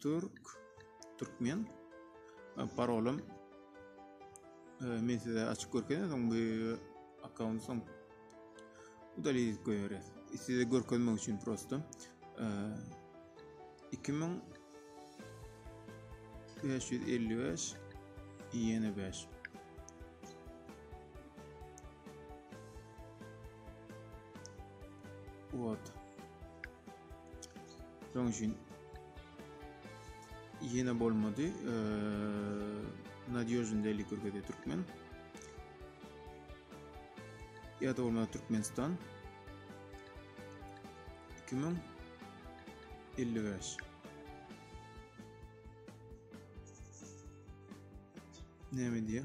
Türk, Türkmen. Parolum men size açyp görkezdim soň bu akkaunt soň udalýa edip goýarys. Size görkezmek üçin prosto 2000 555 ýene 5 Вот. Şonuň üçin ýene bolmady. Nadýožny deli görkezýär türkmen. Ýa-da bolmasa Türkmenistan 2055. Näme diýýär?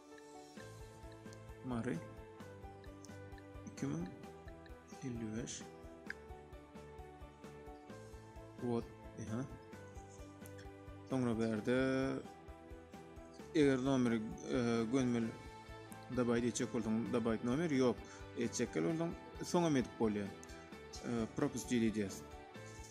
Mary 2055 Wot, ha. Soňra berde eger nomeri e, gönmeli dabaýda etjek bolsaň, dabaýt nomer ýok. Etjekler bolsaň, soňam edip bolýar. E, Propustili diýýär.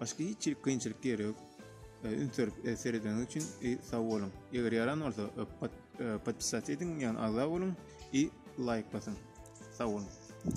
Başga hiç bir kynçylyk ýeri ýok. E, üns berip e, seredeniňiz üçin e, sag boluň. Eger ýaran bolsa, podpisat ediň, ýagny agza boluň i laýk basyň. Sag boluň.